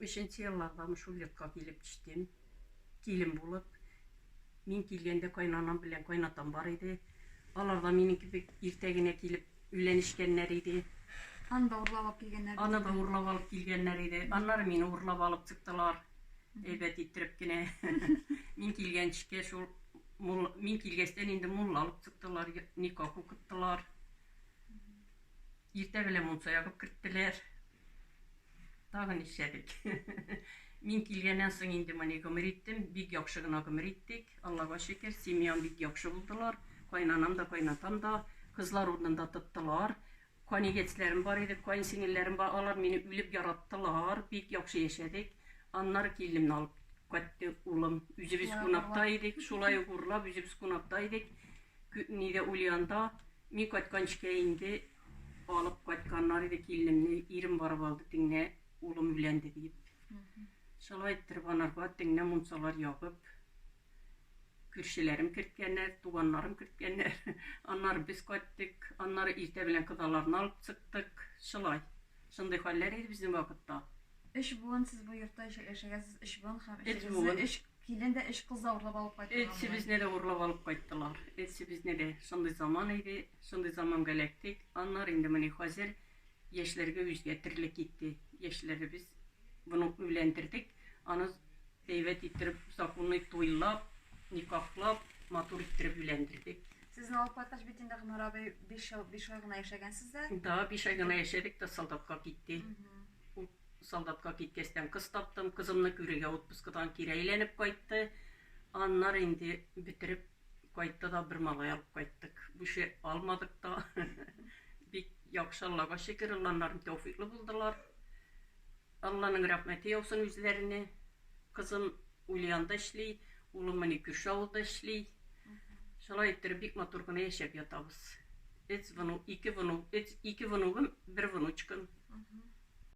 Өченче еллардамы шул йортка килеп төштем, килен булып. Мин килгәндә кайнанам белән кайнатам бар иде. Алар да минем кебек иртә генә килеп өйләнешкәннәр иде. Аны да урлап алып килгәннәр. Аны да урлап алып килгәннәр иде. Аннары мине урлап алып чыктылар. Әйбәт иттереп кенә. Мин килгәнчекә шул мулла, мин килгәчтән инде мулла алып чыктылар, никах укыттылар. Иртә белән мунча ягып керттеләр. Тагын нишләдек? Мин килгәннән соң инде моны гомер иттем. Бик яхшы гына гомер иттек. Аллага шөкер, семьям бик яхшы булдылар. Кайнанам да, кайнатам да кызлар урынында тоттылар. Канигетсләрем бар иде, каенсеңелләрем бар. Алар мине үлеп яраттылар. Бик яхшы яшәдек. Аннары киленемне алып кайтты улым. Үзебез кунакта идек. Шулай ук урлап, үзебез кунакта идек. Нидә, Ульянда. Мин кайтканчкә инде алып кайтканнар иде киленемне, ирем барып алды теңнә улым өйләнде диеп. Шулай иттереп анарга теңнә мунчалар ябып, күршеләрем керткәннәр, туганнарым керткәннәр. Аннары без кайттык, аннары иртә белән кодаларны алып чыктык. Шулай. Шундый хәлләр иде безнең вакытта. Өч буын сез бу йортта яшәгәнсез, өч буын һәм өчегезне өч. Килен дә өч кыз да урлап алып кайттылар. Өчебезне дә урлап алып кайттылар. Өчебезне дә. Шундый заман иде, шундый заманга эләктек. Аннары инде менә хәзер яшьләргә үзгә төрле китте. Яшьләребез буны өйләндердек. Аны әйбәт иттереп, законный туйлап, никахлап, матур иттереп өйләндердек. Сезне алып кайткач бит инде, Гомәр абый, биш ел, биш ай гына яшәгәнсез дә? Да, биш ай гына яшәдек тә солдатка китте. Солдатка киткәчтән кыз таптым, кызымны күрергә отпускыдан кире әйләнеп кайтты. Аннары инде бетереп кайтты да, бер малай алып кайттык. Бүше алмадык та. Бик яхшы, Аллага шөкер, огланнарым тәүфыйклы булдылар. Алланың рәхмәте яусын үзләренә. Кызым Ульянда эшли, улым менә күрше авылда эшли. Шулай иттереп бик матур гына яшәп ятабыз. Өц вну, ике вну, өц, ике внугым, бер внучкам.